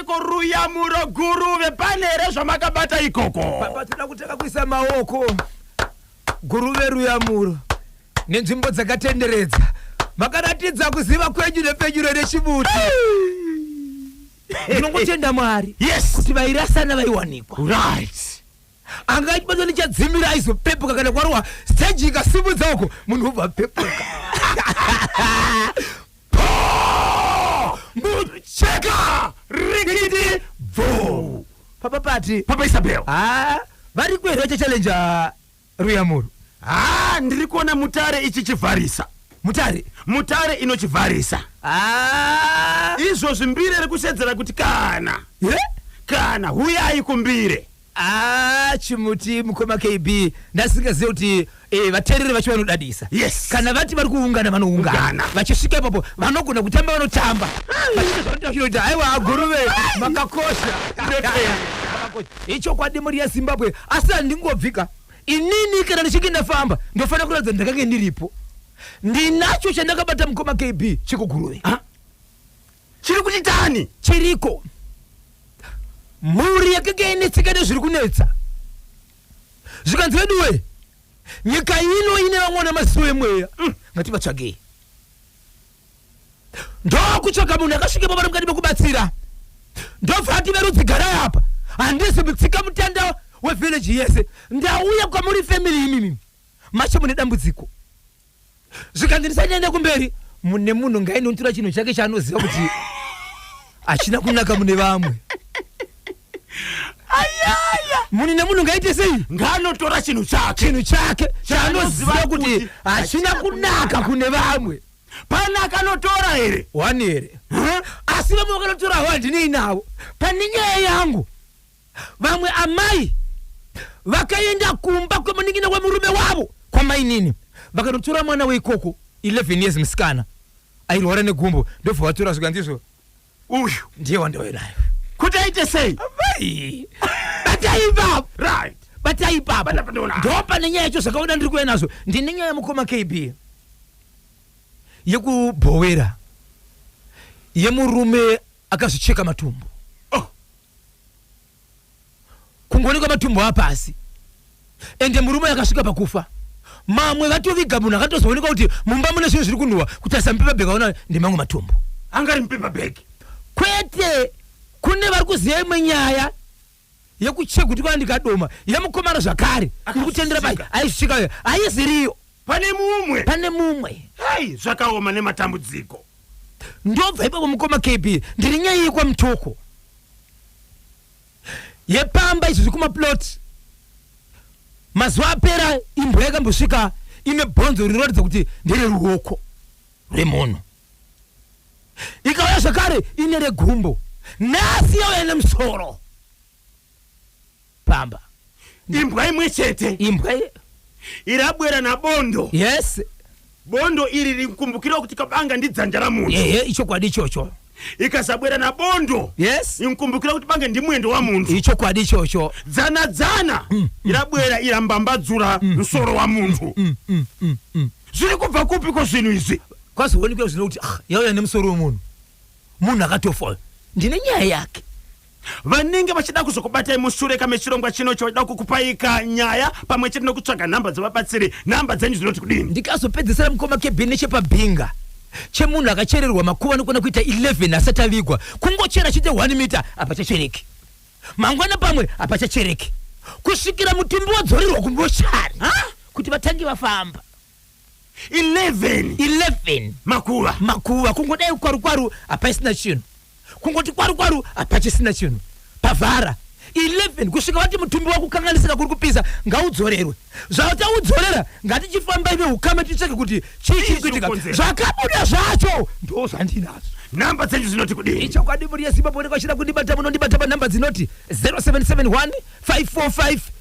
Ko ruyamuro guru vepane here zvamakabata ikoko? Baba toda kutanga kuisa maoko guru veruyamuro nenzvimbo dzakatenderedza makaratidza kuziva kwenyu nepfenyuro rechibuti ndinongotenda mwari Yes. kuti vairasana vaiwanikwa Right. anga achibatwa nechadzimira aizopepuka kana kwarohwa stage ikasimudza uko munhu obva apepuka mucheka rikiti bvo papa pati papa isabel ha vari kuenda vachachallenja ruyamuro ha ndiri kuona mutare ichichivharisa mutare mutare inochivharisa ha izvozvi mbire riri kusedzera kuti kana ye kana huyai kumbire Ah, chimuti mukoma KB ndasingazive kuti eh, vateereri vacho vanodadisa Yes. kana vati vari kuungana vanoungana Ungana. vachisvika ipapo vanogona kutamba vanotamba Vachiita zvavanoda vachinoita haiwa aguruve makakosha Makakosha. ichokwadi mhuri yezimbabwe asi handingobvika inini kana ndichinge ndafamba ndofanira kuratidza kuti ndakange ndiripo ndinacho chandakabata mukoma KB chekuguruve Chiri kuti tani. Chiriko. Mhuri yakanga yainetseka nezviri kunetsa. Zvikanzi veduwe, nyika ino ine vamwe vana maziso emweya. Mm, ngativatsvagei. Ndokutsvaga munhu akasvika pamana mukati mekubatsira. Ndobva ati verudzi garai apa. Handisi mutsika mutanda wevillage yese. Ndauya kwamuri family imimi. Macho mune dambudziko. zvikanzi ndisanyanya kumberi mune munhu ngainontura chinhu chake chaanoziva kuti hachina kunaka mune vamwe munhu nemunhu ngaite sei ngaanotora chinhu chake chinhu chake chaanoziva kuti hachina kunaka kune vamwe pane akanotora here wani here asi vamwe vakanotora havo handinei navo pane nyaya yangu Vamwe amai vakaenda kumba kwemunin'ina wemurume wavo kwamainini vakanotora mwana weikoko 11 years musikana airwara negumbo ndobva vatora zvikanzizvo uyu ndiye wandauya nayo kuti aite sei amai batai ipapa right batai ipapa Panapa ndoona. ndopa nenyaya yacho zvakaona ndiri kuuya nazvo ndine nyaya yemukoma kb yekubhowera yemurume akazvicheka matumbu oh kungoonekwa matumbu apasi ende murume akasvika pakufa mamwe vatoviga munhu akatozoonekwa kuti mumba mune zvinhu zviri kunhuwa kutarisa mupepa bhegi aona ndemamwe matumbu anga ari mupepa bhegi kwete kune vari kuziva imwe nyaya yekucheka kuti kana ndikadoma yemukomana zvakare iri kutendera pai aisvika aiziriyo pane mumwe pane mumwe hai zvakaoma nematambudziko ndobva ipapo mukoma kb ndiri nyaya yekwamutoko yepamba izvi zvikumaplot mazuva apera imbwa yakambosvika ine bhonzo rinoratidza kuti ndere ruoko rwemunhu ikauya zvakare ine regumbo nhasi yauya nemusoro pamba imbwa imwe chete imbwa ye- irabwera nabondo yes bondo iri rikumbukirawo kuti kabanga ndidzanja ramunhu ehe ichokwadi ichocho ikasabwera nabondo yes inkumbukira kuti bange ndimwendo wamunhu ichokwadi ichocho dzana dzana irabwera irambambadzura msoro wamunhu zviri kubva kupi ko zvinhu izvi kwazoonekwa zvino kuti ah, yauya nemusoro wemunhu munhu akatofa uyu. ndine nyaya yake vanenge vachida kuzokubatai mushure ka mechirongwa chino chavaida kukupaika nyaya pamwe chete nekutsvaga nhamba dzevabatsiri nhamba dzenyu dzinoti kudini ndikazopedzesera mukoma kebin nechepabhinga chemunhu akachererwa makuva anokona kuita 11 asati avigwa kungochera chete 1 mita hapachachereki mangwana pamwe hapachachereki kusvikira mutumbi wadzorerwa kumochari kuti vatange vafamba 11 11 makuva makuva kungodai kwaru kwaru hapaisina chinhu kungoti kwaru kwaru hapachisina chinhu pavhara 11 kusvika vati mutumbi wakukanganisika kuri kupisa ngaudzorerwe zvataudzorera ngatichifambai veukama ticheke kuti chii chiri kuitika zvakabuda zvacho ndo zvandinazvo nhamba dzenyu dzinoti kudii ichokwadi mhuri yezimbabwe nekwachira kundibata munondibata panhamba dzinoti 0771 545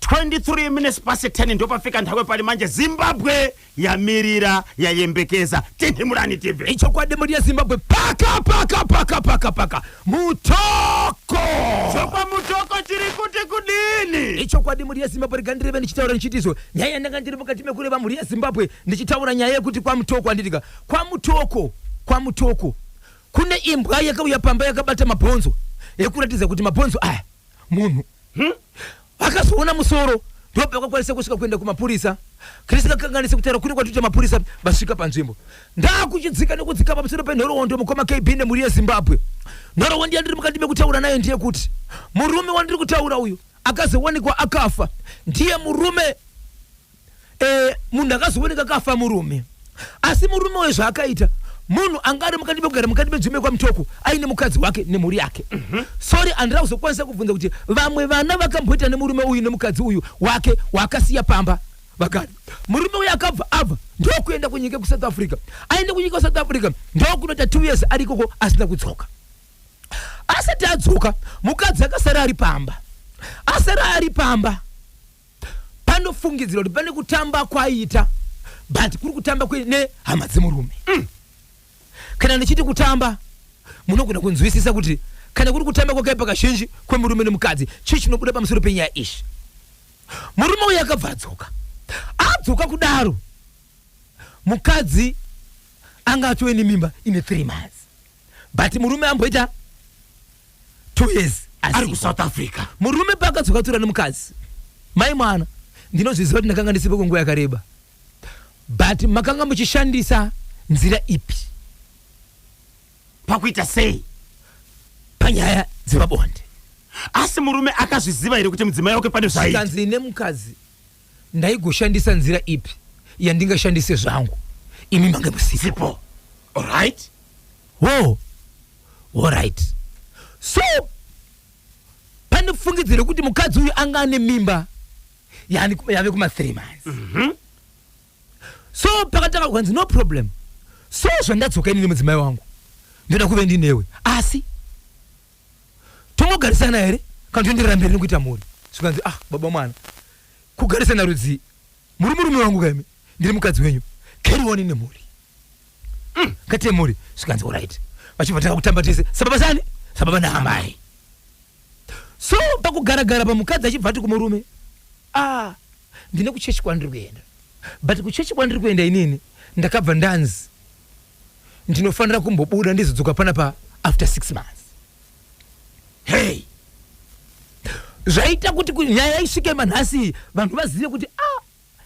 23 minutes pasi 10 ndopafika nhawe pari manje zimbabwe yamirira yayembekeza tinhimurani tv ichokwadi mhuri yezimbabwe paka paka paka paka paka mutoko chokwa mutoko chiri kuti kudini ichokwadi mhuri yezimbabwe rega ndireve ndichitaura ndichitizvo nyaya yandanga ndiri mukati mekureva mhuri yezimbabwe ndichitaura nyaya yekuti kwamutoko anditika kwamutoko kwamutoko kune imbwa yakauya pamba yakabata mabhonzo yekuratidza kuti mabhonzo aya munhu hmm? akazoona musoro ndopakakwanisa kusvika kuenda kumapurisa chris kakanganisa kutaura kuri kwatoita mapurisa vasvika panzvimbo ndakuchidzika nekudzika pamusoro penhoroondo mukoma kb nemhuri yezimbabwe nhoroondo yandiri mukati mekutaura nayo ndiye kuti murume wandiri kutaura uyu akazowanikwa akafa ndiye murume eh, munhu akazooneka kafa murume asi murume uyo zvaakaita munhu anga ari mukati mekugara mukati medzimbe kwamutoko aine mukadzi wake nemhuri yake mhm. sorry andira kuzokwanisa kubvunza kuti vamwe vana vakamboita nemurume uyu nemukadzi uyu wake waakasiya pamba vakati murume uyu akabva abva ndokuenda kunyika yekusouth africa aende kunyika yesouth africa ndokunoita two years ari ikoko asina kudzoka asati adzoka mukadzi akasara ari pamba asara ari pamba panofungidzirwa kuti pane kutamba kwaita but kuri kutamba nehama dzemurume mm. kana ndichiti kutamba munogona kunzwisisa kuti kana kuri kutamba kwakaipa kazhinji kwemurume nemukadzi chii chinobuda pamusoro penyaya izvi murume uyo akabva adzoka adzoka kudaro mukadzi anga atove nemimba ine three months but murume amboita two years ari kusouth africa murume paakadzoka tura nemukadzi mai mwana ndinozviziva kuti ndakanga ndisipo kwenguva yakareba but makanga muchishandisa nzira ipi pakuita sei panyaya dzepabonde asi murume akazviziva here kuti mudzimai wake pane zvaikanzi nemukadzi ndaigoshandisa nzira ipi yandingashandise zvangu imi mange musipo orit wo orit so pane fungidziro yekuti mukadzi uyu anga ane mimba yave kuma three months mm -hmm. so pakatanga kukanzi no problem so zvandadzoka ini nemudzimai wangu ndoda kuve ndinewe asi tomogarisana here kana toenderera mberi nekuita mhuri zvikanzi ah baba mwana kugarisana rudzii muri murume wangu kaimi ndiri mukadzi wenyu carry on nemhuri mm. kati yemhuri zvikanzi orit vachibva tanga kutamba tese sababa sani sababa naamai so pakugaragara pamukadzi achibva ati kumurume ah Ndine kuchechi kwandiri kuenda but kuchechi kwandiri kuenda inini ndakabva ndanzi ndinofanira kumbobuda ndizodzoka panapa after six months. Hey! Zvaita kuti ku- nyaya isvike manhasi iyi vanhu vazive kuti ah,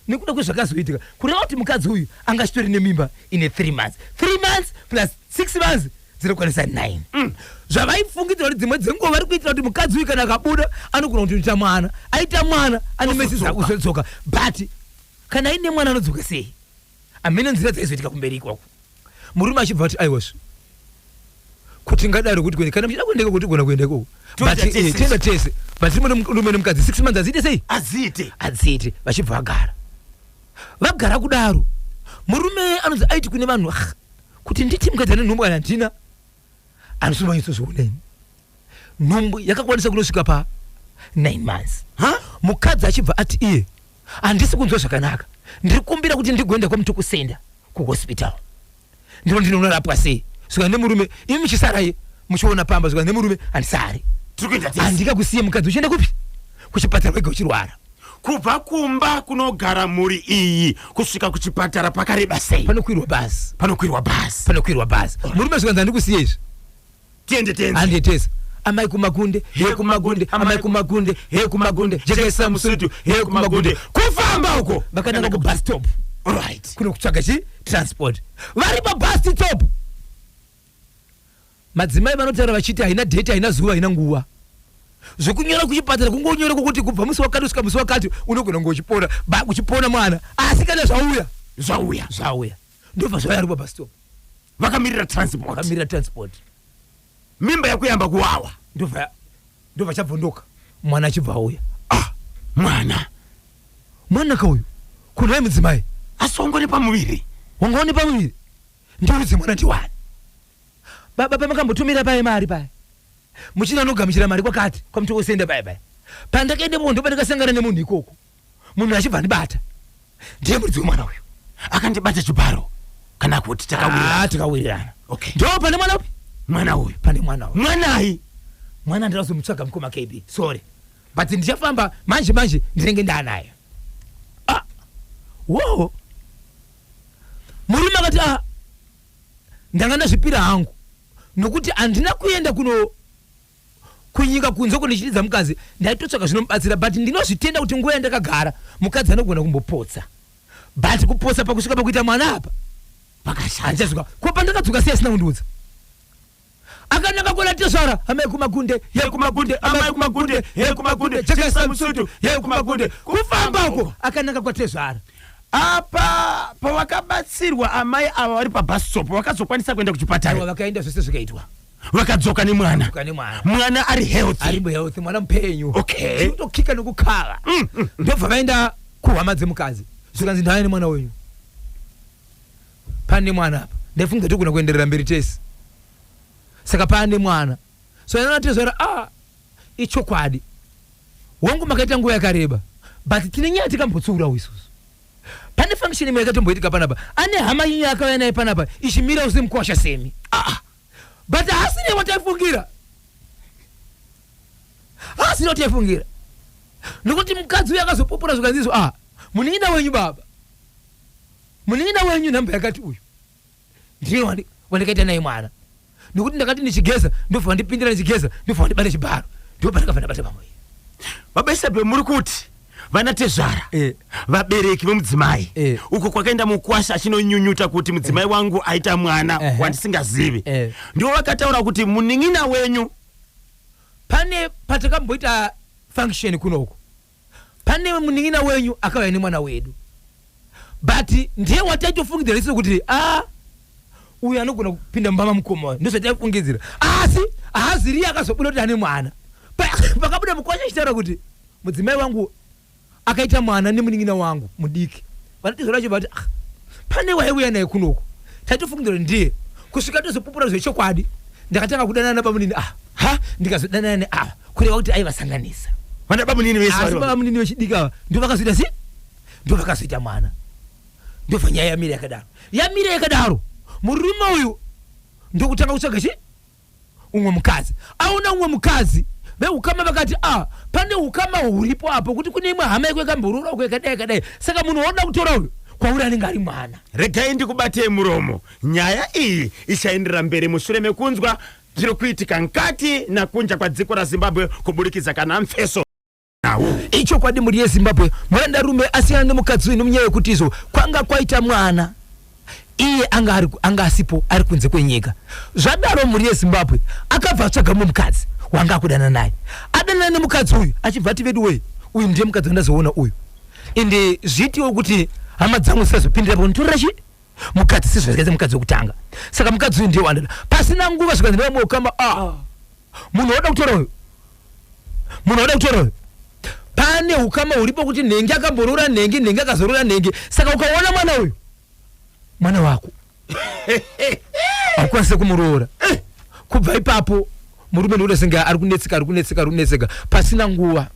nekuda kwezvakazoitika kureva kuti mukadzi uyu anga chitori nemimba ine three months three months plus six months dzinokwanisa nine mm. zvavaifungidzira kuti dzimwe dzenguva vari kuitira kuti mukadzi uyu kana akabuda anogona kuti unoita mwana aita mwana ane mesi dzakuzodzoka but kana aine mwana anodzoka sei amene nzira dzaizoitika kumberi ikoko murume achibva kuti aiwasvi kuti ngadaro kuti kuende kana muchida kuendeka kuti gona kuenda ikoko eh, tienda tese but timurume nemukadzi six months aziite sei aziite aziite vachibva vagara vagara kudaro murume anonzi aiti kune vanhu ah, kuti nditi mukadzi ane nhumbu kana handina anosungwa nyatsoziona ini nhumbu yakakwanisa kunosvika pa 9 months mukadzi achibva ati iye handisi kunzwa zvakanaka ndiri kumbira kuti ndigoenda kwamutokusenda kuhospital ndiro ndinonorapwa sei saka nemurume imi muchisaraye muchiona pamba saka nemurume handisari handika kusiye mukadzi uchienda kupi kuchipatara wega uchirwara kubva kumba kunogara mhuri iyi kusvika kuchipatara pakareba sei panokwirwa bhazi panokwirwa bhazi panokwirwa bhazi murume zvikanzi handikusiye izvi tiende tenzi handiyetesa amai kumagunde he kumagunde amai kumagunde he kumagunde jekesa musutu he kumagunde kufamba uko vakananga kubus stop right kunokutsvaga chi transport vari pabus stop Madzimai vanotaura vachiti haina date, haina zuva, haina nguva. Zvekunyora kuchipatara kungonyora kwokuti kubva musi wakati kusvika musi wakati unogona kunge uchipona ba uchipona mwana asi kana zvauya zvauya zvauya ndobva zvauya aripo bastop vakamirira transport vakamirira transport mimba yakuyamba kuwawa ndobva ndobva chabvondoka mwana achibva auya ah mwana mwana kauyu kunai mudzimai asongo nepamuviri wangaone pamuviri ndirudze mwana ndiwani baba pamakambotumira paye mari paye muchina anogamuchira mari kwakati kwamuti osenda paye paye pandakaende munhu ndopandakasangana nemunhu ikoko munhu achibva andibata ndiye muridzi wemwana uyu akandibata chibharo kana kuti takawirirana tikawirirana okay ndo pane mwana upi mwana uyu pane mwana uyu mwanai mwana ndirazomutsvaga mukoma kb sorry but ndichafamba manje manje ndinenge ndaanayo ah. wo murume akati a ah, ndanga ndazvipira hangu nokuti handina kuenda kuno kunyika kunze uko ndichididza mukadzi ndaitotsvaka zvinomubatsira but ndinozvitenda kuti nguva yandakagara mukadzi anogona kumbopotsa but kupotsa pakusvika pakuita mwana apa pakashanja zvika ko pandakadzoka sei asina kundiudza akananga kona tezvara amai kumakunde ye kumakunde amai kumakunde ye kumakunde chekesa musutu ye kumakunde kufamba uko akananga kwatezvara apa pavakabatsirwa amai ava vari pabhasitop vakazokwanisa kuenda kuchipatara vakaenda zvese zvikaitwa vakadzoka nemwana mwana ari healthhealth mwana mupenyu okay tokika nokukava mm, mm, mm. ndobva vaenda kuhama dzemukadzi zvikanzi ndaya nemwana wenyu Pane mwana apa. Ndaifunga togona kuenderera mberi tese. Saka pane mwana. So yana natezvara ah ichokwadi. Wangu makaita nguva yakareba. But tine nyaya tikambotsiurawo isusu. Pane function imwe yakatomboitika panapa. Ane hama yenyu yakauya naye panapa ichimira usimkwasha semi. Ah. But hasine wataifungira. Hasine wataifungira. Nokuti mukadzi uyu akazopupura zvikanzi izvo ah munin'ina wenyu baba. munin'ina wenyu nhamba yakati uyu ndiye wandikaita naye mwana nokuti ndakati ndichigeza ndobva vandipindira ndichigeza ndobva vandibata chibharo ndipo pandakabva ndabata pamwe baba isabe muri kuti vana tezvara eh. vabereki vemudzimai eh. uko kwakaenda mukwasha achinonyunyuta kuti mudzimai eh. wangu aita mwana eh. wandisingazivi eh. ndivo vakataura kuti munin'ina wenyu pane patakamboita function kunoko pane munin'ina wenyu akauya nemwana wedu but ndiye wataitofungidzira riso kuti a uyu anogona kupinda mumba mamukoma uyu ndozvataifungidzira asi haaziriye akazobuda kuti ane mwana Pa- pakabuda mukwasha achitaura kuti mudzimai wangu akaita mwana nemunin'ina wangu mudiki Vanotizwa vacho vati ah, pane waiuya naye kunoku taitofungira kuti ndiye kusvika tozopupura zvechokwadi ndakatanga kudanana nabamunini ava ha ndikazodanana neava kureva kuti aivasanganisa Vana bamunini vese asi vari baba munini vechidiki ava ndo vakazoita sei ndo vakazoita mwana ndobva nyaya yamira yakadaro yamira yakadaro murume uyu ndokutanga kutsvaga chi umwe mukadzi aona umwe mukadzi veukama vakati ah pane ukama huripo apo kuti kune imwe hama yako yakamborora uko yakadai yakadai saka munhu waoda kutora uyu kwauri anenge ari mwana regai ndikubatei muromo nyaya iyi ichaendera mberi mushure mekunzwa zviri kuitika nkati nakunja kwadziko razimbabwe kuburikidza kana mfeso nawo ichokwadi mhuri yezimbabwe murandarume asiyana nemukadzi wenhu munyaya yekuti izvo kwanga kwaita mwana iye anga ari- anga asipo ari kunze kwenyika zvadaro mhuri yezimbabwe akabva atsvaga mumwe mukadzi wanga akudana naye adanana nemukadzi uyu achibva ati vedu wei uyu ndiye mukadzi wandazoona uyu ende zviitiwo kuti hama dzangu zisazopindira paunitorera chii mukadzi sezvazikaita mukadzi wekutanga saka mukadzi uyu ndiye wandada pasina nguva zvikanzi nevamwe ukama ah munhu wauda kutora uyu munhu wauda kutora uyu pane ukama huripo kuti nhengi akamboroora nhengi nhengi akazoroora nhengi saka ukaona mwana uyu mwana wako haukwanise kumuroora kubva ipapo murume ndikuda senge ari kunetseka ari kunetseka ari kunetseka pasina nguva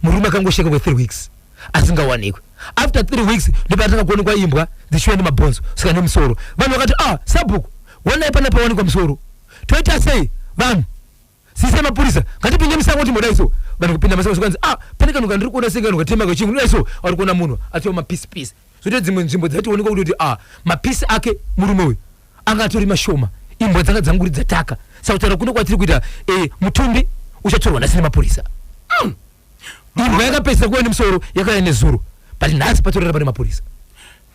murume akangosheka kwe 3 weeks asingawanikwe after 3 weeks ndopaatanga kuonekwa imbwa dzichiuya nemabhonzo saka nemusoro vanhu vakati ah sabhuku wanai pana pawanikwa musoro toita sei vanhu sise mapurisa ngatipinde musango timoda iso vanhu kupinda masango zvikanzi ah pane kanhu kandiri kuona senge kanhu katema kachingu ndoda iso ari kuona munhu atova mapisi pisi zvoita dzimwe nzvimbo dzatiwonekwa kuti kuti ah mapisi ake murume uyu anga atori mashoma imbwa dzanga dzanguridza taka sakutaura kuno kwatiri kuita e, mutumbi uchatorwa nhasi nemapurisa mm. imbwa yakapedzisa kuva nemusoro yakauya nezuro but nhasi patorera pane mapurisa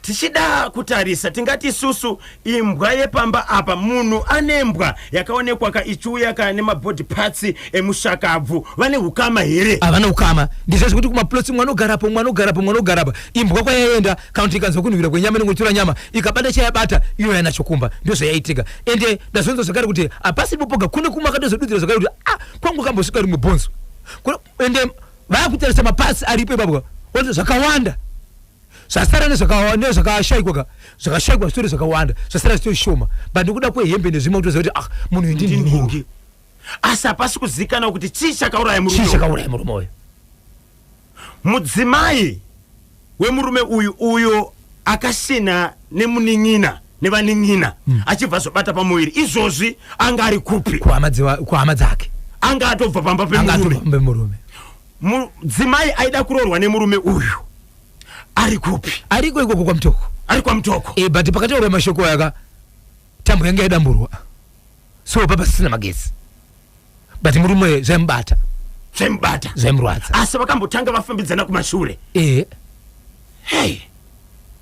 tichida kutarisa tingati isusu imbwa yepamba apa munhu ane mbwa yakaonekwa ka ichiuya ka nemabody parts emushakabvu vane hukama here havana ukama ndizvo zvekuti kumaplotsi mwana ogarapo mwana ogarapo mwana ogarapo imbwa kwayaenda kana kuti ikanzwa kunhuhwira kwenyama inenge ichitora nyama ikabata chayabata iyo yana chokumba ndozvayaitika ende ndazonzwa zvakare kuti hapasi popoga kune kumwe akatozodudzira zvakare kuti a kwangu kambosvika rimwe bhonzo Kuno- ende vakutarisa mapasi aripo ipapwa wati zvakawanda zvasara nezvakawa- nezvakashaikwa ka zvakashaikwa zvitori zvakawanda zvasara zvitori shoma but nekuda kwehembe nezvimwe kutoziva kuti ah munhu uyu ndinhingi Ndinhingi. asi hapasi kuzivikanwa kuti chii chakauraya murume chii chakauraya murume uyu mudzimai wemurume uyu uyo akasina nemunin'ina nevanin'ina mm. achibva azobata pamuviri izvozvi anga ari kupi kuhama dzake anga atobva pamba pemurume mudzimai aida kuroorwa nemurume uyu ari kupi ariko ikoko kwamutoko ari kwamutoko e, eh, but pakataura mashoko aya ka tambo yanga yadamburwa so papa sisina magetsi but murume zvaimubata zvaimubata zvaimurwadza asi vakambotanga vafambidzana kumashure e hey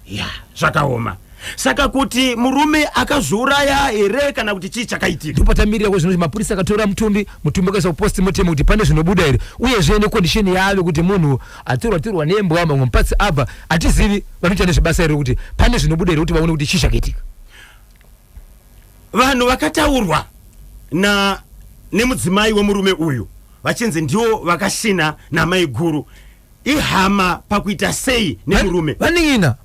ya zvakaoma saka kuti murume akazviuraya here kana kuti chii chakaitika ndipotamirira ko zvinoti mapurisa akatora mutumbi mutumbi akaisa kuposti motemo kuti pane zvinobuda here uyezve nekondisheni yave kuti munhu atorwa torwa nembwa mamwe mupatsi abva hatizivi vanoita nezvebasa here kuti pane zvinobuda here kuti vaone kuti chii chakaitika vanhu vakataurwa na nemudzimai wemurume uyu vachinzi ndiwo vakashina namaiguru ihama pakuita sei nemurume vaning'ina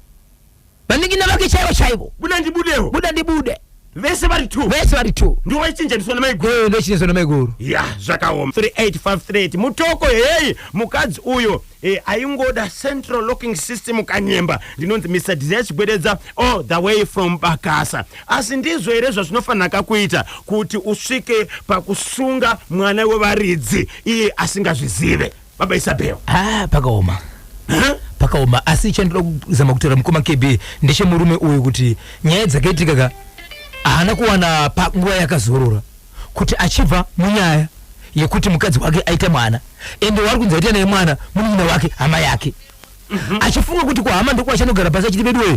vaning'ina vake chaivo chaivo buda ndibudewo buda ndibude vese vari two vese vari two ndiwo vaichinjaniswa namaiguru goyo ndochinizwa namaiguru ya zvakaoma 3853 mutoko heyi mukadzi uyo Eh, aingoda central locking system kanyemba ndinonzi mr dizia chigwededza all the way from bakasa asi ndizvo here zvazvinofanira kakuita kuti usvike pakusunga mwana wevaridzi iye asingazvizive baba isabel ah pakaoma huh? pakaoma asi chandoda kuzama kutaura mukoma kb ndechemurume uyu kuti nyaya dzakaitika ka haana kuwana panguva yakazorora kuti achibva munyaya yekuti mukadzi wake aita mwana ende waari kunzi aita naye mwana munin'ina wake hama yake mhm. achifunga kuti kwahama ndokwachanogara pasi achiti veduwee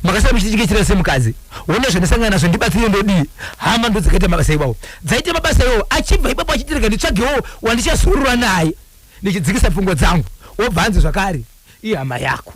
makasara muchitichikechera semukadzi wona zvandisangana nazvo ndibatsire ndodii hama ndo dzakaita mabasa iwawo dzaita mabasa iwawo achibva ipapo achitirega nditsvagewo wandichasurura naye ndichidzikisa pfungwa dzangu wobva anzi zvakare ihama yako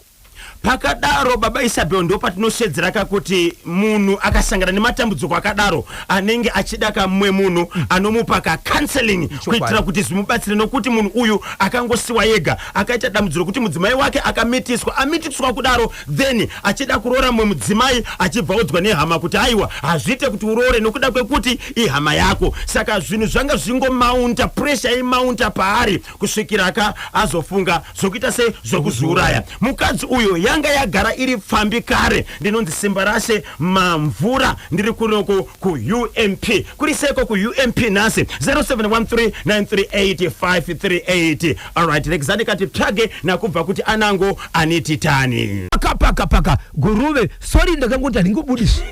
Pakadaro baba Isabel ndopatinosvedzera ka kuti munhu akasangana nematambudziko akadaro anenge achida ka mumwe munhu anomupa ka counseling kuitira kuti zvimubatsire nokuti munhu uyu akangosiwa yega akaita dambudziro kuti mudzimai wake akamitiswa amitiswa kudaro then achida kuroora mumwe mudzimai achibva odzwa nehama kuti aiwa hazviite kuti uroore nokuda kwekuti ihama yako saka zvinhu zvanga zvingomaunta pressure imaunta paari kusvikira ka azofunga zvokuita se zvokuzviuraya mukadzi uyo yanga yagara iri pfambi kare ndinonzi simba rashe mamvura ndiri kunoko kuump kuri seko kuump nhasi 0713938538 alright rexani kati tsvage nakubva kuti anango anititani paka paka paka guruve sorry ndakangoti handingobudisi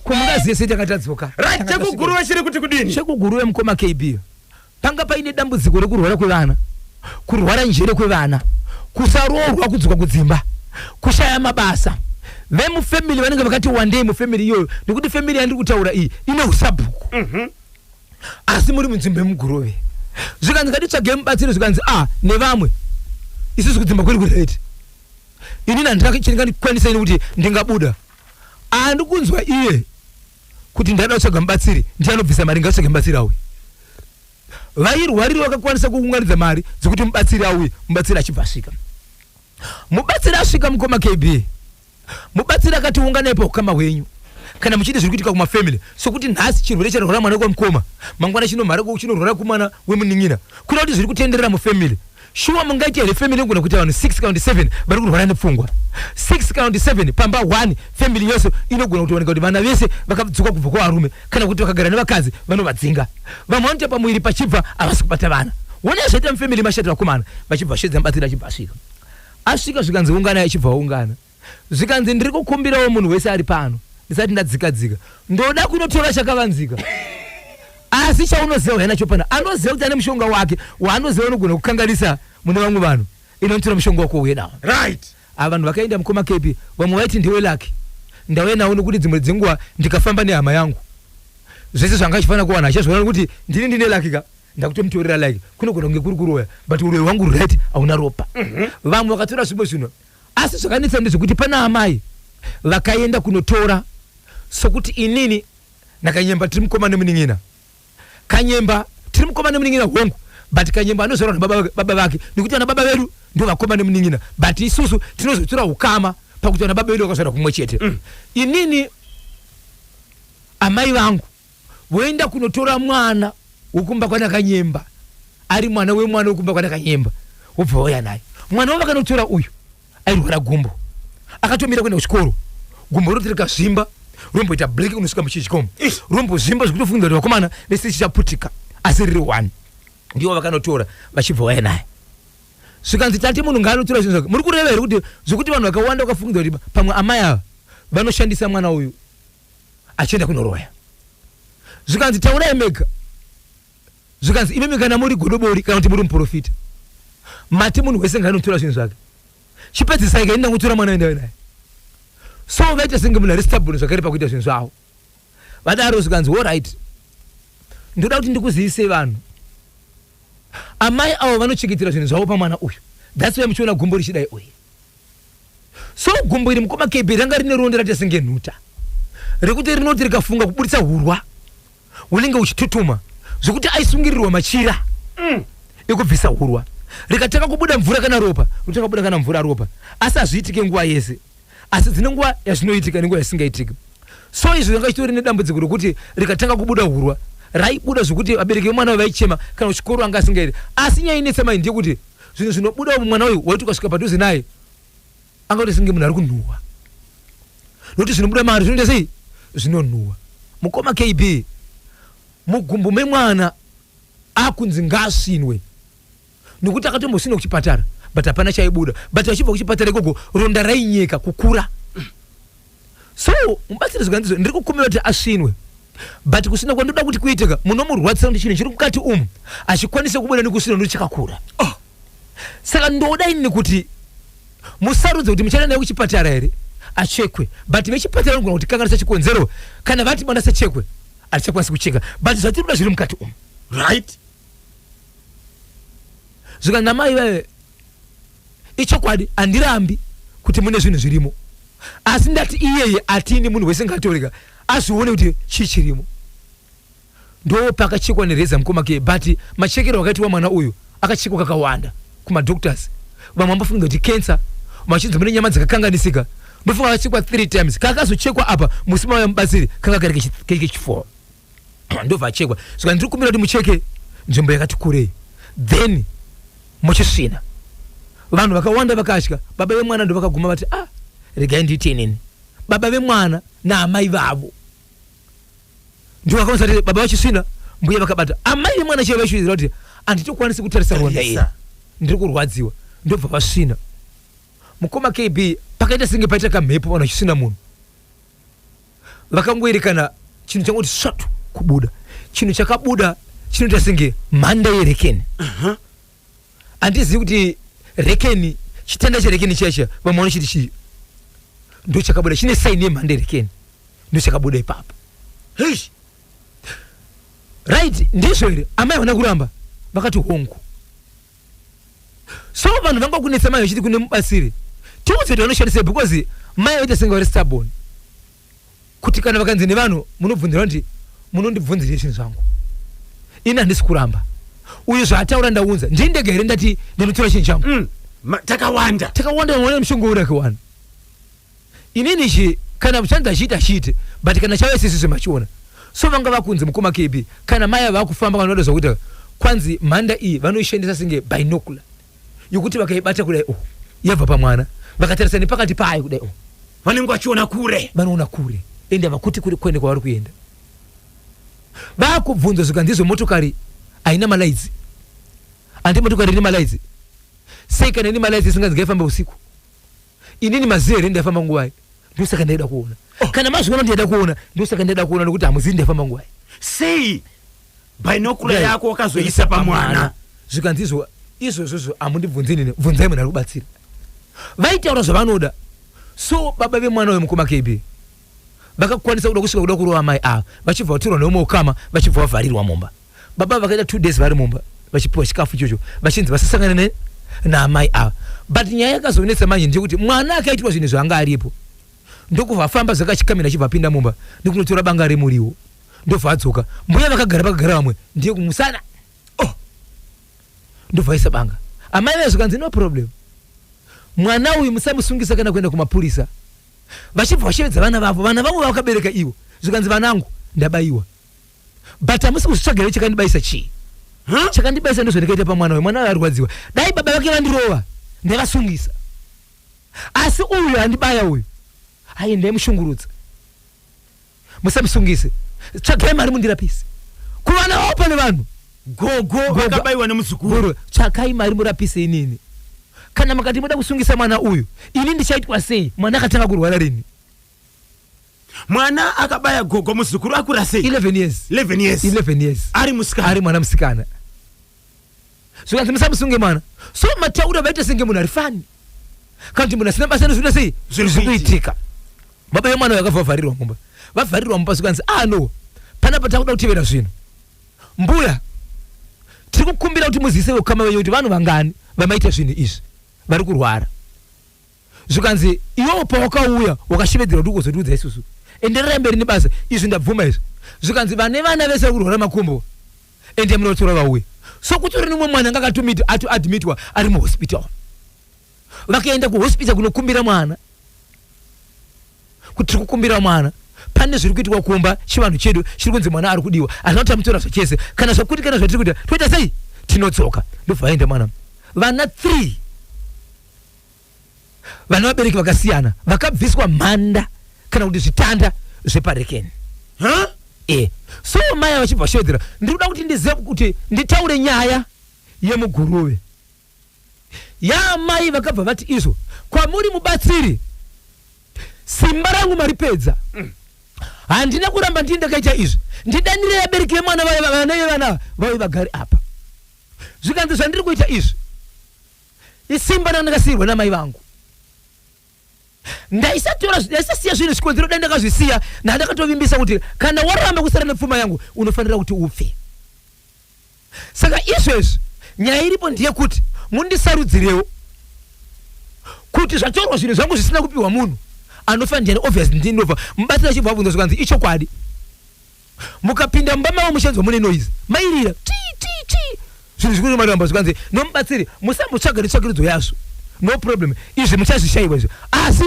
kumukadzi yese takatadzoka right chekuguruve chiri kuti kudini chekuguruve mukoma kb Panga paine dambudziko rekurwara kwevana, kurwara njere kwevana, kusaroorwa, kudzoka kudzimba, kushaya mabasa. Vemufamily vanenge vakati wandei mufamily iyoyo nekuti family yandiri kutaura iyi ine usabhuku. Asi muri munzvimbo yemuGurove. Zvikanzi ngatitsvage mubatsiri zvikanzi ah nevamwe isusu kudzimba kwedu kuri right. Inini handina chandingakwanisa ini kuti ndingabuda. Andikunzwa iye kuti ndaida kutsvaga mubatsiri ndiye anobvisa mari ngatsvage mubatsiri auye vairwariro vakakwanisa kuunganidza mari dzekuti mubatsiri auye mubatsiri achibva asvika mubatsiri asvika mukoma kb mubatsiri akati unganai paukama hwenyu kana muchiita zviri kuitika kumafamily sokuti nhasi chirwere charwara mwana kwamukoma mangwana chinomhara chinorwara kumwana wemunin'ina kuda kuti zviri kutenderera mufamily Shuwa mungaite here family yongona kuita vanhu 6 kana kuti 7 vari kurwara nepfungwa 6 kana kuti 7 pamba 1 family yose inogona kutooneka kuti vana vese vakadzoka kubva kuvarume kana kuti vakagara nevakadzi vanovadzinga vamwe vanoita pamuviri pachibva havasi kubata vana wona zvaita mufamily mashati vakomana vachibva shedza mubatsiri achibva asvika asvika zvikanzi unganai achibva aungana zvikanzi ndiri kukumbirawo munhu wese ari pano ndisati ndadzika dzika ndoda kunotora chakavanzika asi chaunoziva uya nacho pano anoziva kuti ane mushonga wake waanoziva unogona kukanganisa mune vamwe vanhu ino ndotora mushonga wako uye nawo right ava vanhu vakaenda mukoma kepi vamwe vaiti ndiwe laki ndauya nawo nokuti dzimwe dzenguva ndikafamba nehama yangu zvese zvanga achifanira kuwana achazviona nokuti ndini ndine laki ka ndakutomutorera laki kunogona kunge kuri kuroya but uroyi hwangu right hauna ropa vamwe vakatora zvimwe zvinhu Asi zvakanetsa ndezvekuti pana amai vakaenda kunotora sokuti inini naKanyemba tiri mukoma nemunin'ina. Kanyemba tiri mukoma nemunin'ina hongu but Kanyemba anozvarwa nababa vake nekuti vana baba vedu ndivo vakoma nemunin'ina but isusu tinozotora ukama pakuti vana baba vedu vakazvarwa kumwe chete. Inini amai vangu. voenda kunotora mwana wokumba kwanakanyemba ari mwana wemwana wokumba kwanakanyemba wobva wauya naye mwana wavakanotora uyu airwara gumbo akatomira kuenda kuchikoro gumbo roti rikazvimba romboita black unosvika muchichikomo rombozvimba zvekutofunga kuti vakomana vese chichaputika asi riri one ndiwo vakanotora vachibva waya naye zvikanzi tati munhu ngaanotora zvinhu zvake muri kureva here kuti zvekuti vanhu vakawanda vakafungidzira kuti pamwe amai ava vanoshandisa mwana uyu achienda kunoroya zvikanzi taurai mega zvikanzi imimi kana muri godobori kana kuti muri muprofita mati munhu wese ngaanotora zvinhu zvake chipedzisai kaini ndakutora mwana endave naye so vaita senge munhu ari stabuni zvakare pakuita zvinhu zvavo vadaro zvikanzi orit ndoda kuti ndikuzivisei vanhu amai avo vanochengetera zvinhu zvavo pamwana uyu thats why muchiona gumbo richidai uyu So gumbo iri mukoma KB ranga rine ronde rate senge nhuta rekuti rinoti rikafunga kuburitsa hurwa hunenge uchitutuma zvekuti aisungirirwa machira mm. ekubvisa hurwa rikatanga kubuda mvura kana ropa rotanga kubuda kana mvura ropa asi hazviitike nguva yese asi dzine nguva yazvinoitika nenguva yasingaitike so izvi zvanga chitori nedambudziko rekuti rikatanga kubuda hurwa raibuda zvekuti vabereki vemwana vaichema kana kuchikoro anga asingaiti asi nyaya inetsa mai ndeyekuti zvinhu zvinobudawo mumwana uyu waiti ukasvika padhuze naye angaite senge munhu ari kunhuhwa nokuti zvinobuda mari zvinoita sei zvinonhuhwa mukoma kb mugumbu memwana akunzi ngaasvinwe nokuti akatombosvinwa kuchipatara but hapana chaibuda but vachibva kuchipatara ikoko ronda rainyeka kukura so mubatsire zvikandizo ndiri kukumbira kuti asvinwe but kusina kwandoda kuti kuitika munomurwadzisa kuti chinhu chiri mukati umu achikwanise kubuda nekusvina nokuti chakakura oh. saka ndoda inini kuti musarudze kuti muchaenda naye kuchipatara here achekwe but vechipatara vanogona kuti kanganisa chikonzero kana vati mwana sachekwe hatichakwanisi kucheka but zvatiri kuda zviri mukati umu right zvikanamai vaye ichokwadi handirambi kuti mune zvinhu zvirimo asi ndati iyeye atini munhu wese ngatorega azvione kuti chii chirimo ndo pakachekwa nereza mukoma ke but machekero akaitwa mwana uyu akachekwa kakawanda kumadoctors vamwe ambofunga kuti cancer vachinzi mune nyama dzakakanganisika ndofunga akachekwa three times kakazochekwa apa musi mauya mubatsiri kaka kari kechi- kari kechiforo ndobva achekwa saka ndiri kumbira kuti mucheke nzvimbo yakati kurei then muchisvina vanhu vakawanda vakatya baba vemwana ndovakaguma vati ah regai ndiite inini baba vemwana naamai vavo ndovakaonza kuti baba vachisvina mbuya vakabata amai vemwana chaivo vaishuvidzira kuti handitokwanisi kutarisa rwanda iri ndiri kurwadziwa ndobva vasvina mukoma kb pakaita senge paita kamhepo vanhu vachisvina munhu vakangoerekana chinhu changoti svatu kubuda chinhu chakabuda chinoita senge mhanda yerekeni handizivi kuti rekeni chitanda cherekeni chiya chiya vamwe vanochiti chii ndo chakabuda chine saini yemhanda yerekeni ndo chakabuda ipapo Eish. right ndizvo here amai havana kuramba vakati hongu so vanhu vanga kunetsa mai vachiti kune mubatsiri tiudze kuti vanoshandisei because mai vaita senge vari stubborn kuti kana vakanzi nevanhu munobvunzira kuti munondibvunzirei zvinhu zvangu ini handisi kuramba uyu zvaataura ndaunza ndini ndega here ndati ndinotora chinhu changu Mm. Ma- takawanda takawanda mwana mushongo uri akiwana inini ichi kana chanzi achiita chiite but kana chave sisisi machiona so vanga vakunzi mukoma kb kana maya vakufamba kana vatozwa kuti kwanzi mhanda iyi vanoishandisa senge binocular yokuti vakaibata kudai oh yabva pamwana vakatarisa nepakati payo kudai oh vanenge vachiona kure vanoona kure ende havakuti kuri kwende kwavari kuenda vakubvunza zvikanzi izvo motokari haina malaidzi handi motokari ine malaidzi sei kana ine malaidzi isinganzi ngaifambe usiku inini maziva here ndaifamba nguvai ndosaka ndaida kuona oh. kana mazviona ndaida kuona ndosaka ndaida kuona nokuti hamuzivi ndaifamba nguvai sei bainokura yako wakazoisa pamwana zvikanzi izvo izvozvozvo hamundibvunzi nini bvunzai munhu ari kubatsira vaitaura zvavanoda so baba vemwana uyo mukoma kb vakakwanisa kuda kusvika kuda kurova mai ava vachibva vatorwa neumwe ukama vachibva vavharirwa mumba baba vakaita two days vari mumba vachipiwa chikafu ichocho vachinzi vasasangane ne naamai ava but nyaya yakazonetsa manje ndeyekuti mwana akaitirwa zvinhu zvaanga aripo ndokubva afamba zvakachikamira achibva apinda mumba nekunotora banga remuriwo ndobva adzoka mbuya vakagara pakagara vamwe ndiye kumusana oh. ndobva aisa banga amai vaye zvikanzi no problem mwana uyu musamusungisa kana kuenda kumapurisa vachibva vashevedza vana vavo vana vangu vavakabereka ivo zvikanzi vanangu ndabaiwa but hamusi kuzvitsvagirei chakandibaisa chii huh? chakandibaisa ndozvandikaita pamwana uyu mwana uyu arwadziwa dai baba vake vandirova ndaivasungisa asi uyu andibaya uyu aye ndaimushungurudza musamusungise tsvagai mari mundirapise kuvana vavo pane vanhu gogo vakabaiwa nemuzukuru tsvakai mari murapise inini kana makati moda kusungisa mwana uyu ini ndichaitwa sei mwana akatanga kurwara rini mwana akabaya gogo muzukuru akura sei 11 years 11 years 11 years ari musikana ari mwana musikana zvikanzi musamusunge mwana so mataura vaita senge munhu ari fani kana kuti munhu asina basa anozviita sei zvinhu zviri kuitika baba vemwana uyo akabva vavharirwa mumba vavharirwa mumba zvikanzi ah no panapa takuda kutevera zvinhu mbuya tiri kukumbira kuti muziise vekukama venyu kuti vanhu vangani vamaita zvinhu izvi vari kurwara zvikanzi iwewo pawakauya wakashevedzera kuti ugozotiudza isusu endererai mberi nebasa izvi ndabvuma izvi zvikanzi vane vana vese vakurwara makumbo ende munotora vauye so kutori nemumwe mwana anga akatomiti ato admitwa ari muhospital vakaenda kuhospital kunokumbira mwana kuti tiri kukumbira mwana pane zviri kuitwa kumba chivanhu chedu chiri kunzi mwana ari kudiwa hazvina kuti tamutora zvachese kana zvakuti kana zvatiri kuita toita sei tinodzoka ndobva vaenda mwana vana three vane vabereki vakasiyana vakabviswa mhanda kana kuti zvitanda zveparekeni huh? e so maya vachibva shodhera ndiri kuda kuti ndizive kuti nditaure nyaya yemuguruve yaamai vakabva vati izvo kwamuri mubatsiri simba rangu maripedza mm. handina kuramba ndii ndakaita izvi ndidanire yabereki yemwana vana vevana vauye vagari apa zvikanzi zvandiri kuita izvi isimba randakasiirwa namai vangu ndaisatora ndaisasiya zvinhu zvikonzero dai ndakazvisiya nandakatovimbisa kuti kana waramba kusara nepfuma yangu unofanira kuti upfe saka izvezvi nyaya iripo ndeyekuti mundisarudzirewo kuti zvatorwa zvinhu zvangu zvisina kupiwa munhu anofanira ndiani obvious ndinova mubatsira chibva abvunza zvikanzi ichokwadi mukapinda mumba mavo muchanzwa mune noise mairira tii tii tii zvinhu zvikuti matomba zvikanzi nomubatsiri musambotsvaga netsvakirudzo yazvo no problem izvi muchazvishaiwa izvi asi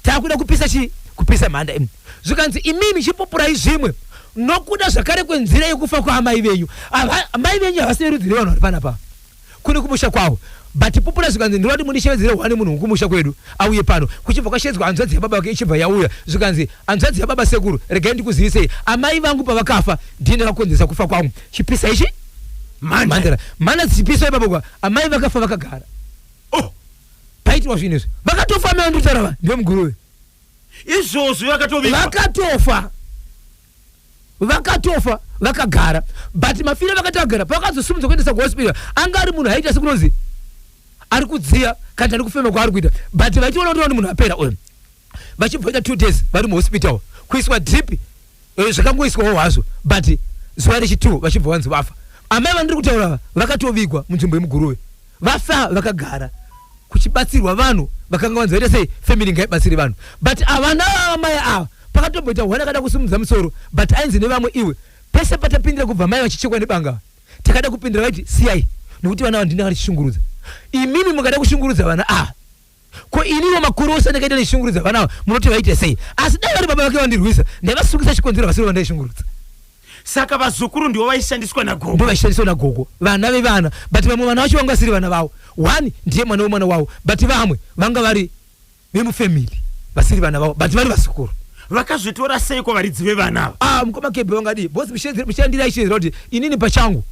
takuda kupisa chii kupisa mhanda imi zvikanzi imimi chipupurai zvimwe nokuda zvakare kwenzira yekufa kwaamai venyu Ava- amai venyu havasi verudzi revanhu vari panapa kuri kumusha kwavo but pupura zvikanzi ndoda kuti mundishevedzere one munhu wekumusha kwedu auye pano kuchibva kwashedzwa hanzvadzi yababa vake ichibva yauya zvikanzi hanzvadzi yababa sekuru regai ndikuzivisei amai vangu pavakafa ndiye ndakakonzeresa kufa kwangu chipisa ichi mandara mana zipiso ipapo kwa amai vakafa vakagara oh paitirwa zvinhu izvi vakatofa amai vanditaura va ndiwe muguruve izvozvo yakatovigwa vakatofa vakatofa vakagara but mafiro vakati agara pavakazosumudza kuendesa kuhospital anga ari munhu aita sekunonzi ari kudziya kana ari kufema kwaari kuita but vachiona kuti munhu apera uyu vachibvoita two days vari muhospital kuiswa drip eh, zvakangoiswawo hazvo but zuva rechitwo vachibva vanzi vafa amai vandiri kutaura vatovigwa munzvimbo yemuguruve Vasa vakagara kuchibatsirwa vanhu vakanga vanzi vaita sei family ngaibatsire vanhu but havana mai ava pakatomboita one akada kusimudza musoro but ainzi nevamwe iwe pese patapindira kubva mai vachichekwa nebanga ava takada kupindira vaiti siyai nekuti vana ava ndini vakatishungurudza imimi mukada kushungurudza vana ava Ko iniwo makore ose andakaita ndichishungurudza vana ava munoti vaite sei? Asi dai vari baba vake vandirwisa ndaivasungisa chikonzero vasiri vandaishungurudza. Saka vazukuru ndivo vaishandiswa nagogo? Ndivo vaishandiswa nagogo vana vevana but vamwe vana vacho vanga vasiri vana vavo. One ndiye mwana wemwana wavo but vamwe vanga vari vemufamily vasiri vana vavo but vari vazukuru. Vakazvitora seiko varidzi vevana ava? Ah mukoma Kebbe vangadii? Boss muchandira ichizira kuti inini pachangu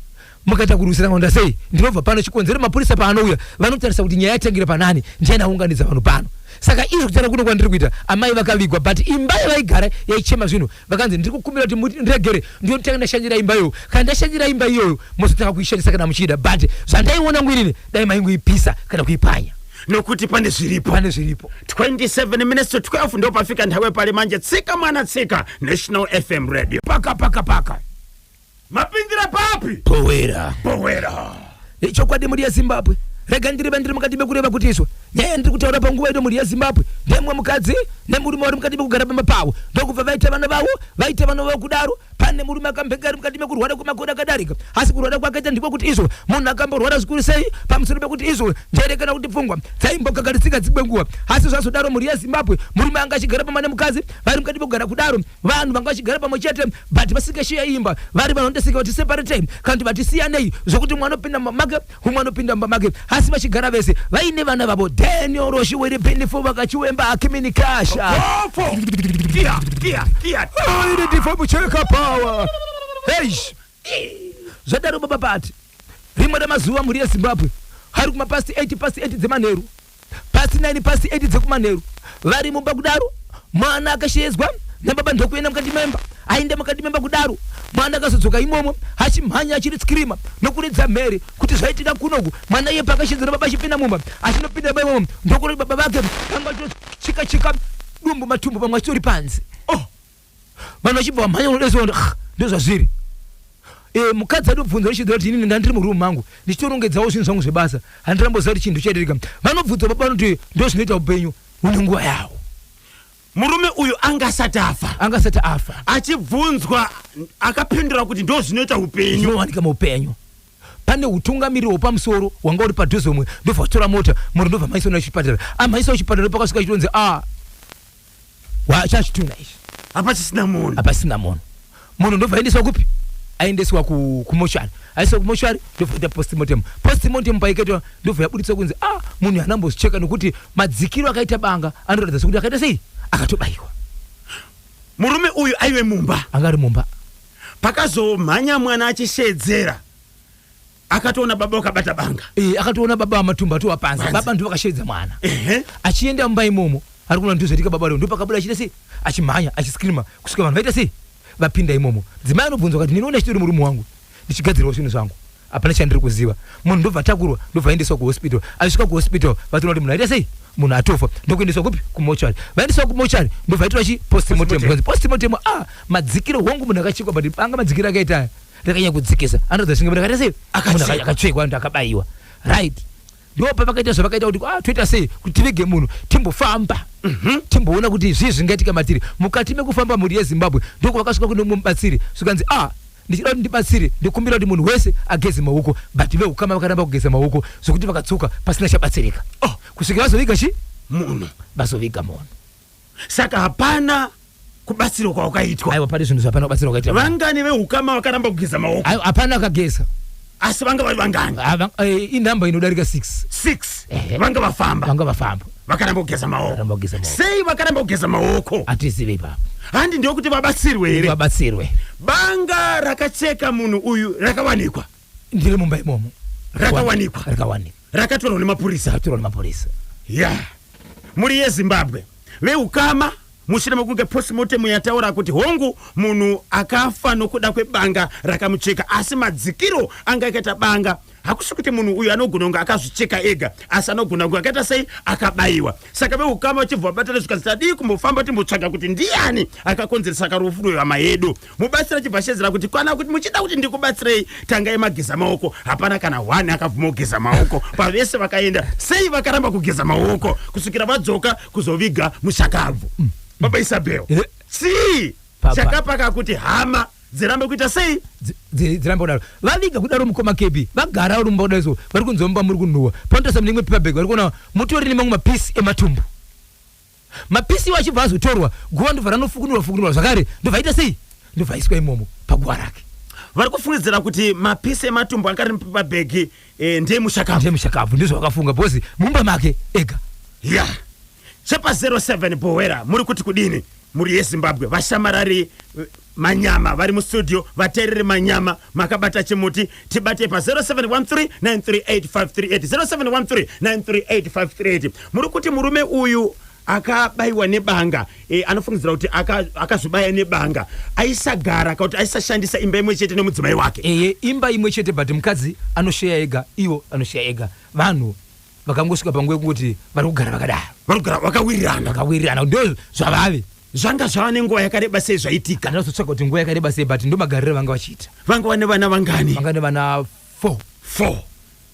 mukaita kurwisana maonda sei ndinobva pano chikonzero mapurisa paanouya vanotarisa kuti nyaya yatangira panani ndiani aunganidza vanhu pano saka izvo kutana kuno kwandiri kuita amai vakavigwa but imba yavaigara yaichema zvinhu vakanzi ndiri kukumbira kuti mundiregere ndiyotanga ndashandira imba iyoyo kana ndashandira imba iyoyo mozotanga kuishandisa kana muchiida but zvandaiona ngwirini dai maingoipisa kana kuipanya nokuti pane zviripo pane zviripo 27 minutes to 12 ndopafika nthawi pali manje tsika mwana tsika national fm radio paka paka paka mapindira papi bhowera bhowera ichokwadi mhuri yezimbabwe rega ndirive ndiri mukati mekureva kuti izvo nyaya yandiri kutaura panguva ino mhuri yezimbabwe ndemwe mukadzi nemurume vari mukati mekugara pamba pavo ndokubva vaita vana vavo vaita vana vavo kudaro pane murume akambenga ari mukati mekurwara kwemakore akadarika asi kurwara kwakaita ndiko kuti izvo munhu akamborwara zvikuru sei pamusoro pekuti izvo njere kana kuti pfungwa dzaimbokagarisika dzimwe nguva asi zvazodaro mhuri yezimbabwe murume anga achigara pamba nemukadzi vari mukati mekugara kudaro vanhu vanga vachigara pamwe chete but vasingashiya imba vari vanhu vandasika vati separate kana kuti vati siyanei zvokuti mwana opinda mumba make umwe anopinda mumba make asi vachigara vese vaine vana vavo daniel roshi were benefo vakachiwemba akimini kasha Popo. Iya, iya, iya. Aine difomu cheka power. Eish. Zvadaro baba Pati. Rimwe ramazuva mhuri yeZimbabwe hari kuma past 8 past 8 dzemanheru, past 9 past 8 dzekumanheru vari mumba kudaro, mwana akasheyedzwa nababa ndokuenda mukati memba. Aenda mukati memba kudaro, mwana akazodzoka imomo achimhanya achiri screamer nokuridza mhere kuti zvaitika kunoku. Mwana iye paakashedzwa nababa achipinda mumba, achinopinda mumba imomo ndokuona kuti baba vake vanga vachitocheka cheka dumbu matumbu pamwe achitori panze. Oh! vanhu vachibva vamhanya unodesondo ah, ndozvazviri e, mukadzi adobvunza richiziva kuti inini ndandiri murumu mangu ndichitorongedzawo zvinhu zvangu zvebasa handiramboziva kuti chinhu chaitirika vanobvunza baba vanoti ndozvinoita upenyu une nguva yawo murume uyu anga asati afa anga asati afa achibvunzwa akapindura kuti ndo zvinoita upenyu zvinowanika muupenyu pane utungamiriri hwepamusoro hwanga uri padhuze umwe ndobva vachitora mota moro ndobva mhanyisa una chipatara amhanyisa uchipatara pakasvika chitonzi a ah, wachazvitunga izvi apa chisina munhu apa sina munhu munhu ndobva aendeswa kupi aendeswa ku- kumoshari aendeswa kumoshari ndobva aita postmortem postmortem paiketwa ndobva yabuditswa kunzi ah munhu haana mbozvicheka nokuti madzikiro akaita banga anoratidza sokuti akaita sei akatobayiwa murume uyu aive mumba anga ari mumba pakazomhanya mwana achishedzera akatoona baba vakabata banga e, akatoona baba vamatumba atova panze baba ndivo vakasheedza mwana achienda mumba imomo ari kuona ndozvaitika baba leo ndopakabuda achiita sei achimhanya achiscrima kusvika vanhu vaita sei vapinda imomo dzimai anobvunzwa kati ndinoona chitori murume wangu ndichigadzirwa zvinhu zvangu hapana chandiri kuziva munhu ndobva atakurwa ndobva aendeswa kuhospital achisvika kuhospital vatoona kuti munhu aita sei munhu atofa ndokuendeswa kupi kumochari vaendeswa kumochari ndobva aitwa chi postmortem postmortem ah madzikiro wangu munhu akachekwa but anga madzikiro akaita rakanyanya kudzikisa anoratidza senge rakati sei munhu aka- akatsvekwa anhu akabaiwa right ndipo pavakaita zvavakaita kuti ah, toita sei kuti tivige munhu timbofamba timboona kuti zvii zvingaitika matiri mukati mekufamba mhuri yezimbabwe ndoko vakasvika kune mumwe mubatsiri zvikanzi ah ndichida kuti ndibatsire ndikumbira kuti munhu wese ageze maoko but veukama vakaramba kugeza maoko zvokuti vakadzoka pasina chabatsirika oh. kusvikira vazoviga chi munhu vazoviga munhu saka hapana kubatsirwa kwawakaitwa aiwa pane zvinhu zvapana kubatsirwa kwakaitwa vangani vehukama vakaramba kugeza maoko aiwa hapana akageza asi vanga vari vangani Ah, vang- eh, inhamba inodarika 6 six Ehe. vanga vafamba vanga vafamba vakaramba kugeza maoko Vakaramba kugeza maoko. sei vakaramba kugeza maoko hatizive ipapo handi ndokuti vabatsirwe here vabatsirwe banga rakacheka munhu uyu rakawanikwa ndiri mumba imomo rakawanikwa rakawanikwa rakatorwa nemapurisa rakatorwa nemapurisa ya yeah. mhuri yezimbabwe veukama mushure mekunge postmortem yataura kuti hongu munhu akafa nokuda kwebanga rakamucheka asi madzikiro anga akaita banga hakusi kuti munhu uyu anogona kunge akazvicheka ega asi anogona kunge akaita sei akabayiwa saka veukama vachibva vabatana zvikanzi tadii kumbofamba timbotsvaga kuti ndiani akakonzeresa karufu rwehama yedu mubatsira chibva shedzera kuti kwana kuti muchida kuti ndikubatsirei tangai mageza maoko hapana kana one akabvuma kugeza maoko pavese vakaenda sei vakaramba kugeza maoko kusvikira vadzoka kuzoviga mushakabvu mm. baba isabel eh. sii chakapaka kuti hama dzirambe kuita sei dzirambe kudaro vaviga kudaro mukoma kepi vagara vari mumba kudaiso vari kunzwa mumba muri kunhuwa panotarisa mune imwe pepabag vari kuona mutori nemamwe mapisi ematumbu Mapisi iwo achibva azotorwa, guva ndobva ranofukunurwa fukunurwa zvakare ndobva aita sei? Ndobva aiswa imomo paguva rake. Vari kufungidzira kuti mapisi ematumbu anga ari pabhegi eh, ndeemushakabvu. Ndeemushakabvu ndizvo vakafunga because mumba make ega. Ya. Chepa 07 Bhohwera muri kuti kudini? Mhuri yeZimbabwe vashamarari eh, Manyama vari mustudio vateereri manyama makabata chimuti tibatei pa 0713938538 0713938538 muri kuti murume uyu akabaiwa nebanga e, anofungidzira kuti akazvibaya aka nebanga aisagara ka kuti aisashandisa imba imwe chete nemudzimai wake eye imba imwe chete but mukadzi anosheya ega iwo anosheya ega vanhu vakangosvika panguva yekungoti vari kugara vakadaro vanogara vakawirirana vakawirirana ndo zvavave zvanga zvava nenguva yakareba sei zvaitika andina kuzotsvaga kuti nguva yakareba sei but ndo magariro vanga vachiita vanga vane vana vangani vanga ne vana four four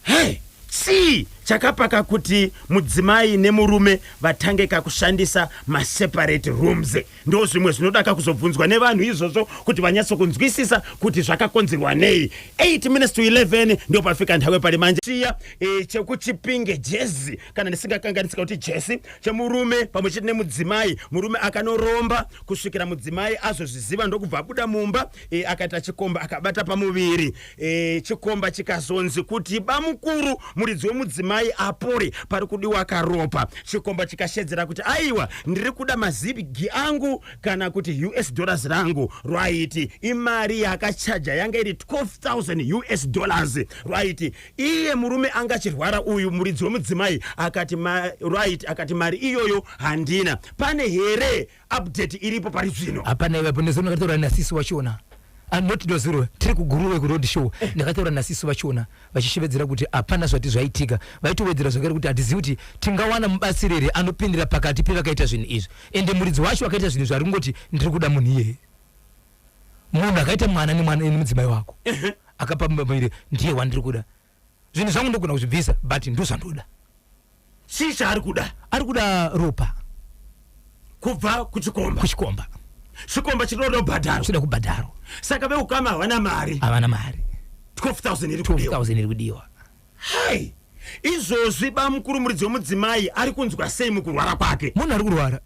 hey chii chakapaka kuti mudzimai nemurume vatange kakushandisa maseparate rooms Ndozvimwe zvinodaka kuzobvunzwa nevanhu izvozvo kuti vanyatso kunzwisisa kuti zvakakonzerwa nei. 8 minutes to 11 ndopafika nhawe pari manje. Chiya eh, chekuchipinge jezi kana ndisingakanganisika kuti jesi chemurume pamwe chete nemudzimai. Murume akanoromba kusvikira mudzimai azozviziva ndokubva abuda mumba eh, akaita chikomba akabata pamuviri. E, chikomba chikazonzi kuti bamukuru muridzi wemudzimai apore pari kudiwa karopa chikomba chikashedzera kuti aiwa ndiri kuda mazibgi angu kana kuti us dollars rangu rwaiti imari yakachaja yanga iri 12000 us dollars rwaiti iye murume anga achirwara uyu muridzi wemudzimai akati rwaiti akati mari iyoyo handina pane here update iripo pari zvino hapana iwe apo nezvo ndakataura nasisi wachona Ah, not dozuro tiri kuguruve kuroad show eh. ndakataura nasisi vachona vachishevedzera kuti hapana zvati zvaitika vaitowedzera zvakare kuti hatizivi kuti tingawana mubatsiri here anopindira pakati pevakaita zvinhu izvi ende muridzi wacho akaita zvinhu izvi ari kungoti ndiri kuda munhu iyeye munhu akaita mwana nemwana nemudzimai wako akapa mumba maire ndiye wandiri kuda zvinhu zvangu ndogona kuzvibvisa but ndozvandoda chii chaari kuda ari kuda ropa kubva kuchikomba kuchikomba chikomba chinoda kubhadharo chinoda kubhadharo saka veukama havana mari havana mari 12000 iri kudiwa 12000 iri kudiwa hai izvozvi bamukuru muridzi wemudzimai ari kunzwa sei mukurwara kwake munhu ari kurwara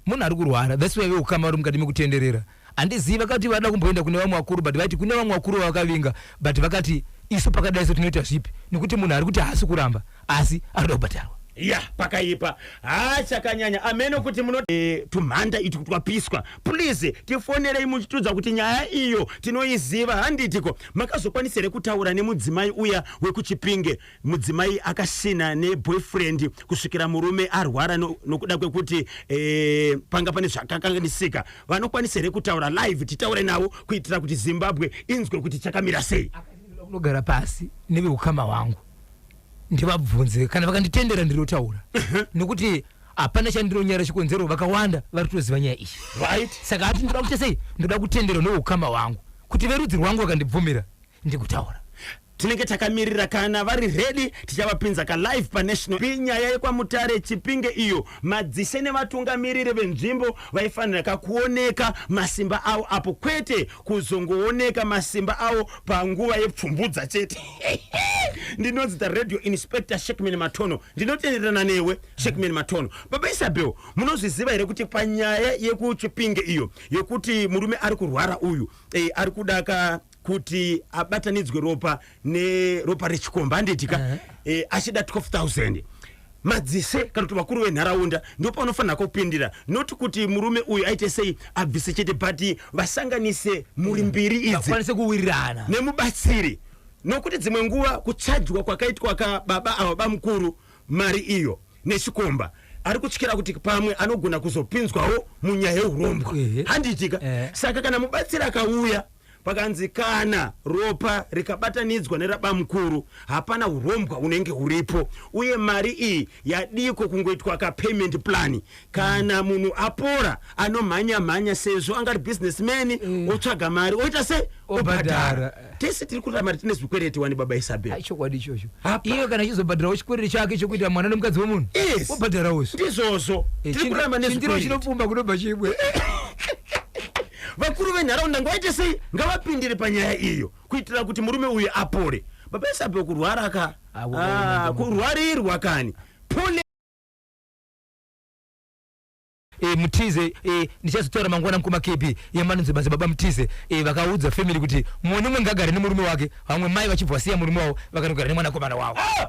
Munhu ari kurwara that's why vehukama vari mukati mekutenderera. Handizivi vakati vada kumboenda kune vamwe vakuru but vaiti kune vamwe vakuru vavakavinga but vakati isu pakadai so tinoita zvipi nekuti munhu ari kuti haasi kuramba asi anoda kubhadharwa. Yah pakaipa haa chakanyanya ameno kuti muno eh, tumhanda itu twapiswa please tifonerei muchitiudza kuti nyaya iyo tinoiziva handiti ko makazokwanisa here kutaura nemudzimai uya wekuchipinge mudzimai akasina neboyfriend kusvikira murume arwara nokuda kwekuti e, panga pane zvakakanganisika vanokwanisa here kutaura live titaure navo kuitira kuti zimbabwe inzwe kuti chakamira sei kunogara pasi neveukama hwangu ndivabvunze kana vakanditendera ndinotaura nokuti hapana chandinonyara chikonzero vakawanda vari kutoziva nyaya iyi right saka ati ndoda kuita sei ndoda kutenderwa neukama hwangu kuti verudzi rwangu vakandibvumira ndikutaura tinenge takamirira kana vari ready tichavapinza ka live pa national P nyaya yekwamutare chipinge iyo madzishe nevatungamiriri venzvimbo vaifanira kakuoneka masimba avo apo kwete kuzongooneka masimba avo panguva yepfumbudza chete ndinonzi the radio inspector shekman matono ndinotenderana newe shekman matono baba isabel munozviziva here kuti panyaya yekuchipinge iyo yekuti murume ari kurwara uyu eh, ari kuda ka kuti abatanidzwe ropa neropa rechikomba handiti ka uh-huh. eh, achida 12000 madzise kana kuti vakuru venharaunda ndipo panofanira kupindira noti kuti murume uyu aite sei abvise chete but vasanganise muri mbiri idzikwanise kuwirirana nemubatsiri nokuti dzimwe nguva kuchajwa kwakaitwa ka baba ava bamukuru mari iyo nechikomba ari kutyira kuti pamwe anogona kuzopinzwawo munyaya yeurombwa handiitika eh. saka kana mubatsiri akauya Pakanzi kana ropa rikabatanidzwa nerabamukuru hapana hurombwa hunenge huripo uye mari iyi yadiko kungoitwa ka payment plan kana munhu apora anomhanya mhanya sezvo angari business man mm. otsvaga mari oita se obhadhara tese tiri kuda mari tine zvikwereti wani baba Isabel chokwadi ichocho iyo kana chizobhadharawo chikwereti chake chokuita mwana nemukadzi wemunhu yes. obhadharawo ndizvozvo eh, tiri kuramba nezvikwereti chinopfumba kunobva chibwe Vakuru venharaunda ngavaite sei? Ngavapindire panyaya iyo kuitira kuti murume uyu apore. Baba Isape kurwara ka? Ah, kurwarirwa kani. Pole. e, mutize e, ndichazotaura mangwana mukoma kb yemanonzi basa baba mutize e, vakaudza family kuti mumwe nomwe ngagare nemurume wake vamwe mai vachibva vasiya murume wavo vakanogara nemwanakomana wavo ah!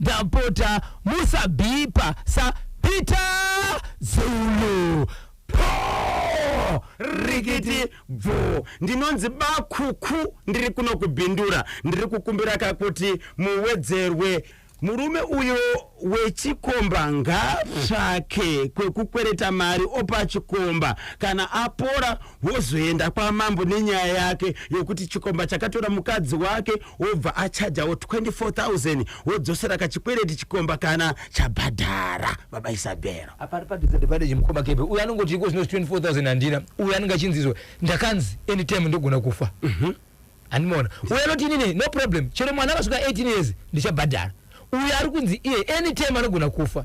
Ndapota musabhipa sa Peter Zulu. Poo! Rikiti bvoo! Ndinonzi bakhukhu ndiri kuno kuBindura. Ndiri kukumbira ka kuti muwedzerwe. Murume uyo wechikomba ngaatsvake kwekukwereta mari opa chikomba kana apora wozoenda kwamambo nenyaya yake yokuti chikomba chakatora mukadzi wake wobva achajawo 24000 wodzosera kachikwereti chikomba kana chabhadhara baba isabhero apari padisadvantage mukoma kebe uyo anongoti iko zvino 24000 handina uyo anenge achinzizwa ndakanzi anytime ndogona kufa mhm. handimaona uyo anoti inini no problem chero mwana akasvika 18 years ndichabhadhara uyo ari kunzi iye anytime anogona kufa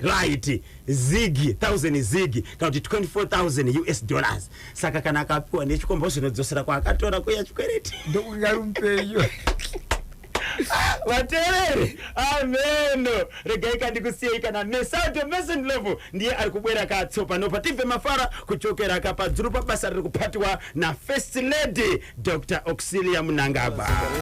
Right, zig, thousand zig, kana kuti 24,000 US dollars. Saka kana akapiwa nechikomba zvinodzosera kwaakatora kuya chikwereti. Ndokungarumpeyo. vateereri ameno regai kandikusiyei kana mesauto mason level ndiye ari kubwera katsopa nopa tibve mafara kuchokera kapadzuru pabasa riri kupatiwa nafirst lady dr auxilia munangagwa